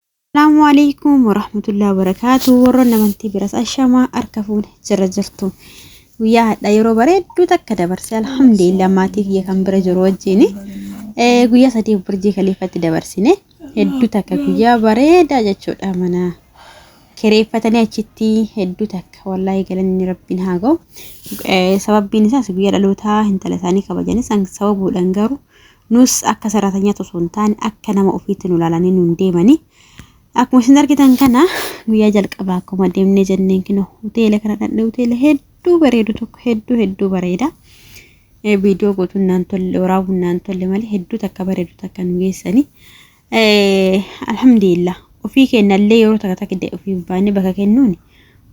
Assalaamu alaikum warahmatullahi wabarakaatu warroon amantii biras ashamaa harka fuune jira jirtu guyyaa hadha yeroo bareedduu takka dabarse alhamdulillah maatii kiyya kan bira jiru wajjin guyyaa sadii burjii kaliifatti dabarsine hedduu takka guyyaa bareedaa jechuudha mana kireeffatanii achitti hedduu takka wallaahi galanni rabbiin haa ga'u sababbiin isaas guyyaa dhalootaa intala isaanii kabajanis sababuudhaan garuu Nus akka saraatanyaatti osoo hin taane akka nama ofiitti nu ilaalanii nuun deemanii. Akkuma isin argitan kana guyyaa jalqabaa akkuma deemnee jenneen kino hoteela kana dhaqnee hoteela hedduu bareedu tokko hedduu hedduu bareeda. Viidiyoo gootuun naan tolle waraabuun naan tolle malee hedduu takka bareedu takka nu geessanii. Alhamdulillah ofii kennallee yeroo takka takka ofii baanee bakka kennuun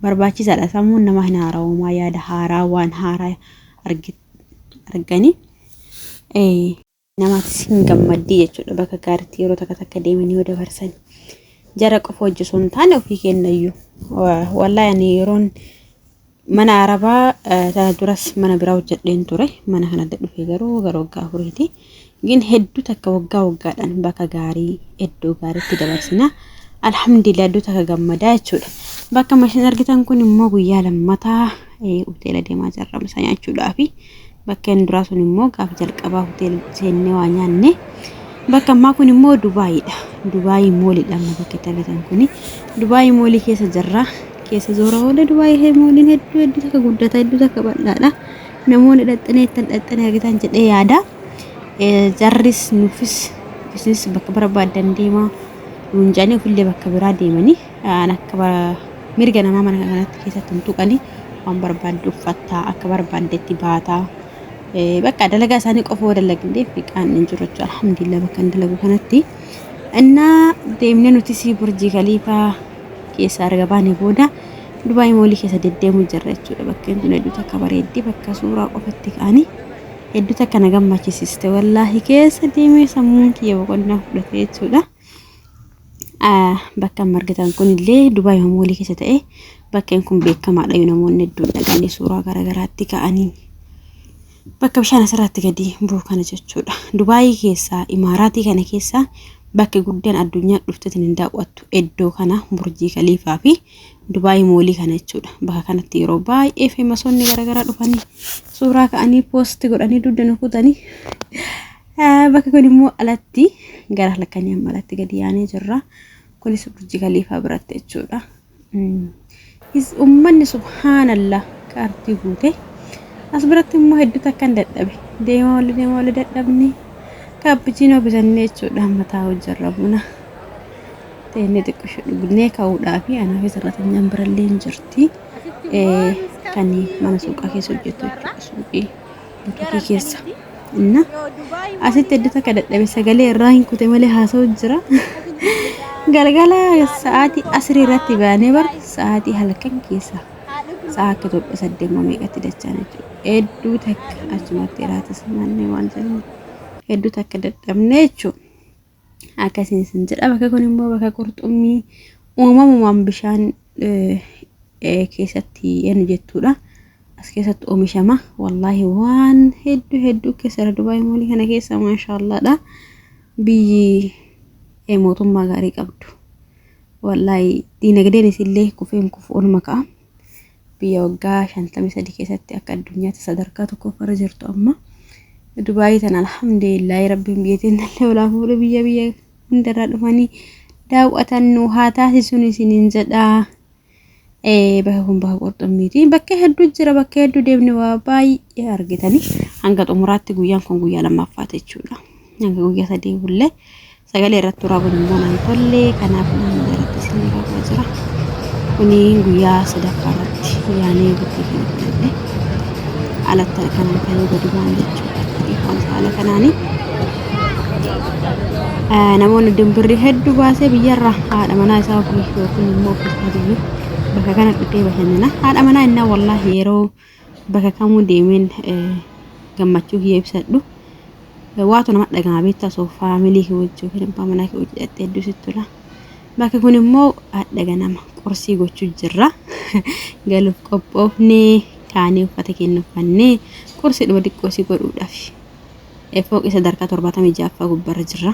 barbaachisaadha sammuun namaa hin haara'umaa yaada haaraa waan haaraa argite. arganii namaatis hin gammaddii jechuudha bakka gaariitti yeroo takka takka deemanii yoo dabarsan jara qofa hojii osoo hin taane ofii kennayyu wallahi ani yeroon mana arabaa tana duras mana biraa hojjedheen ture mana kana adda dhufee garuu gara waggaa afuriiti Gin hedduu takka waggaa waggaadhaan bakka gaarii iddoo gaariitti dabarsina. Alhamdulillah iddoo takka gammadaa jechuudha. Bakka mashin argitan kun immoo guyyaa lammataa hoteela deemaa jirra misa nyaachuudhaa fi bakka inni duraa sun immoo gaafa jalqabaa hoteela seennee waa nyaanne. Bakka ammaa kun immoo Dubaayidha. Dubaayii moolidha amma bakka itti argitan kuni. Dubaayii moolii keessa jirra. Keessa zoora oola Dubaayii mooliin hedduu hedduu takka guddata hedduu takka bal'aadha. Namoonni dhaxxanii ittiin dhaxxanii argitan jedhee yaada. Jarris nuufis isinis bakka barbaadan deemaa nuun jedhanii ofillee bakka biraa deemanii aan akka bara- mirga namaa mana kanatti keessatti hin tuqanii waan barbaadde uffattaa akka barbaaddetti baataa. Eh, Bakka dalagaa isaanii qofa yoo dalagdee fiqaan hin jiru jechuudha. Alhamdulillah bakka hin dalagu kanatti. Innaa deemnee nuti sii burjii kaliifaa keessaa erga baanee booda Dubaay moolii keessa deddeemuu jirra jechuudha. Bakkeen tun hedduu takka bareeddi. Bakka suuraa qofatti ka'anii hedduu takka na gammachisiste. Wallaahi keessa deemee sammuun kiyya boqonnaa fudhate jechuudha. Bakka margitan kun illee Dubaay moolii keessa ta'e bakkeen kun beekamaadha. Namoonni hedduun dhaqanii suuraa garaagaraatti ka'anii. Bakka bishaan asirratti gadi bu'u kana jechuudha. Dubaayii keessaa imaaraatii kana keessaa bakki guddaan addunyaa dhufteetiin hin daawwattu iddoo kana burjii kaliifaa fi Dubaayii moolii kana jechuudha. Bakka kanatti yeroo baay'ee feemasoonni garaagaraa dhufanii suuraa ka'anii poosti godhanii dugda nu kutanii bakka kun immoo alatti gara halkanii amma alatti gadi yaanee jirra. Kunis burjii kaliifaa biratti jechuudha. Is ummanni subhaanallah ka artii guute. As biratti immoo hedduu takkan dadhabe. Deema wali deema wali dadhabne. Kaappuchiinoo bitannee jechuudha mataa hojjarra buna. Teennee xiqqisho dhugnee ka'uudhaa fi anaa fi sarratanyaan birallee hin jirti. Kan mana suuqaa keessa hojjetu jechuudha suuqii. Tiktookii keessa. Inna asitti eddu takka dadhabe sagalee irraa hin kute malee haasa'u jira. Galgala sa'aatii asirii irratti baanee bar sa'aatii halkan keessa sa'a akka Itoophiyaa saddeettama meeqatti dachaan jechuudha. Hedduu takka achumatti iraatis naannee waan jennu hedduu takka dadhabne jechuudha. akkasiin isin jedha bakka kun immoo bakka qurxummii uumamumaan bishaan keessatti enu jettuudha as keessatti oomishama wallaahi waan hedduu hedduu keessara dubaay moolii kana keessa maashaallaadha biyyi mootummaa gaarii qabdu wallaahi diinagdeen isillee kufeen kufu olma ka'a Biyya waggaa 53 keessatti akka addunyaatti sadarkaa tokkoffarra jirtu amma. Dubaayii tana alhamdulillahi rabbiin biyya teennallee olaa fuudhe biyya biyya hundarraa dhufanii daawwatan nu haa taasisuun isiniin jedhaa. Eh, bakka kun bakka qurxummiiti. Bakka hedduu jira, bakka hedduu deemne waa baay'ee argitanii hanga xumuraatti guyyaan kun guyyaa lammaffaati jechuudha. Hanga guyyaa sadii bullee Sagalee irratti waraabuun immoo naan tolle kanaaf naan irratti isin raafaa jira. Kuni guyyaa sadaffaa irratti yaanee bultii kana fudhadhe. Alatti kanaan ka'ee gadi ba'an jechuudha. Dhiifaamsa haala kanaani. Namoonni dimbirri hedduu baasee biyyarra haadha manaa isaa ofii yookiin immoo ofiisaa deemu bakka kana dhufee bashannana. Haadha manaa innaa wallaahi yeroo Bakka kamuu deemeen gammachuu kiyya ibsadhu. Waatu nama dhaga'ama beektaa osoo faamilii kee wajjin yookiin abbaa manaa kee wajjin dhaqxee hedduu sitti tola. Bakki kun immoo hadha ganama qorsii gochuu jirra. Galuuf qophoofnee kaanee uffata keenya uffannee qorsiidhuma xiqqoo si godhuudhaaf. Fooqii sadarkaa torbaatamii ja'affaa gubbarra jirra.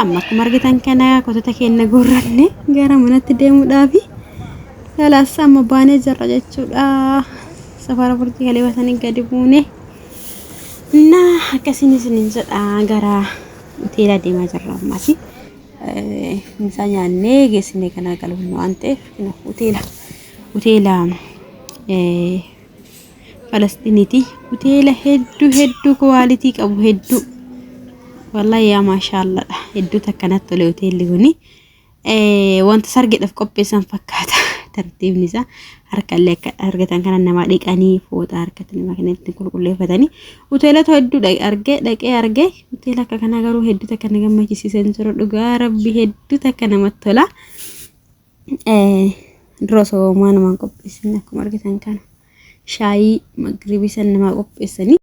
Amma akkuma argitan kana kotota keenya guurranne gara manatti deemuudhaafi. Kalaas amma baanee jirra jechuudha. Safara burjii galee basanii gadi buune. Na akkasiin isiniin jedha gara hoteelaa deemaa jirra ammaati. Mucaa nyaannee geessinee kanaa galuu waan ta'eef hoteela hoteela Falasxiiniti hoteela hedduu hedduu kuwaalitii qabu hedduu wallahi yaa maashaalladha hedduu takka natti tole hoteelli kuni wanta sargidhaaf qopheessan fakkaata tartiibni isaa harkallee akka argatan kana namaa dhiqanii fooxa harkatti namaa kana ittiin qulqulleeffatanii hoteelota hedduu argee dhaqee argee hoteela akka kanaa garuu hedduu takka na gammachisiisan jiru dhugaa rabbi hedduu takka namatti tola. Dura osoo homaa namaan qopheessin akkuma argitan kana shaayii magribii san namaa qopheessanii.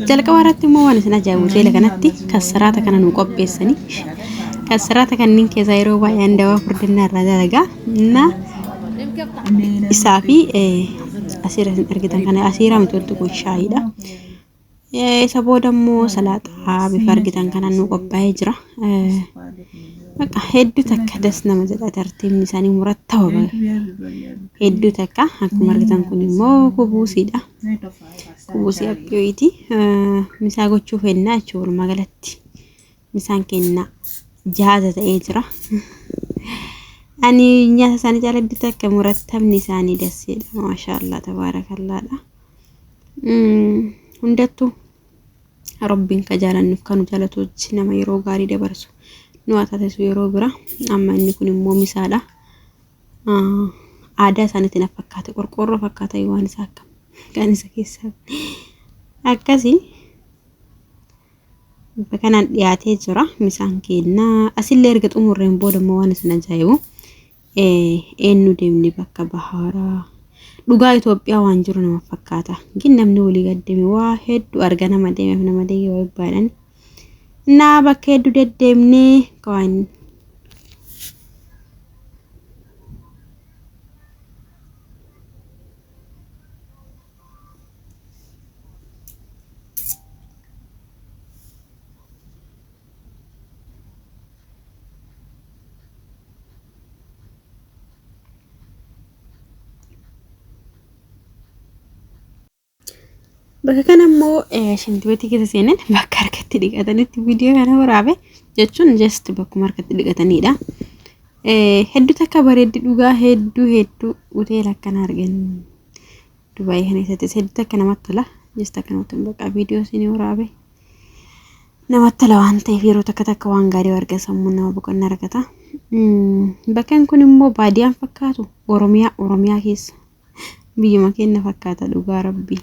Jalqaba irratti immoo waan isin ajaa'ibu hoteela kanatti kassaraata kana nu qopheessanii kassaraata kanneen keessaa yeroo baay'ee handawaa furdinaa irraa dalagaa na isaa fi asiira isin argitan kana asiira miti wanti kun shaayiidha. Eh, Isa booda immoo salaaxaa bifa argitan kanaan nu qophaa'ee jira. Eh, Bakka hedduu takka das nama jedha tartiibni isaanii murattawa bahe. Hedduu takka akkuma argitan kun immoo kubuusiidha. Kubuusii abbiyooti. Eh, Misaa gochuuf hennaa jechuudha walumaa galatti. Misaan kennaa jahaata ta'ee jira. Ani nyaata isaanii jala bitu akka murattamni isaanii dasseedha. Maashaallah tabaarakallaadha. Hundattuu rabbiin ka jaalannuuf kanu jaalatu wajji nama yeroo gaarii dabarsu nu haa taasisu yeroo bira. Amma inni kun immoo misaadha. Aadaa isaaniitti na fakkaate qorqoorroo fakkaata waan isaa akkam kan isa keessaa akkasii. Bifa kanaan dhiyaatee jira misaan keenna. Asillee erga xumurreen booda immoo waan isin ajaa'ibu eenyu deemne bakka bahaaraa. Dhugaa Itoophiyaa waan jiru nama fakkaata. Gin namni walii gaddeeme waa hedduu arga nama deemeef nama deegee waa baadhan. Naa bakka hedduu deddeemnee waan Bakka kana immoo shintibeetii keessa seenan bakka harkatti dhiqatanitti viidiyoo kana waraabe jechuun just bakkuma harkatti dhiqatanidha. Hedduu takka bareeddi dhugaa hedduu hedduu hoteela akkana arganii. Dubaayii kana keessatti hedduutti akka namatti tola. Jesta akka namatti tola. Bakka viidiyoo isinii waraabe. Namatti tola waan ta'eef yeroo takka takka waan gaarii arga sammuun nama boqonnaa argata. Bakkan kun immoo baadiyaan fakkaatu Oromiyaa Oromiyaa keessa biyyuma keenya fakkaata dhugaa rabbii.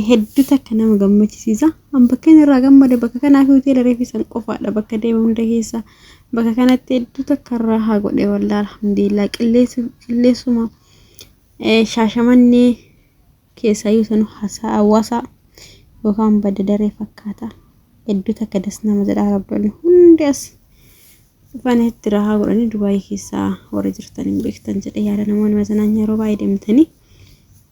hedduu takka nama gammachisiisa. An bakka inni irraa gammade bakka kanaa fi hoteela reefisan qofaadha bakka deema hunda keessa. Bakka kanatti hedduu takka irraa haa godhe waldaa alhamdulillah qilleessuma shaashamannee keessaayyuu sanu haasaa hawaasaa yookaan badda daree fakkaata. Hedduu takka das nama jedha rabdoonni hundi as dhufan itti irraa haa godhanii Dubaayii keessaa warri jirtan hin beektan jedhe yaada namoonni masanaan yeroo baay'ee deemtanii.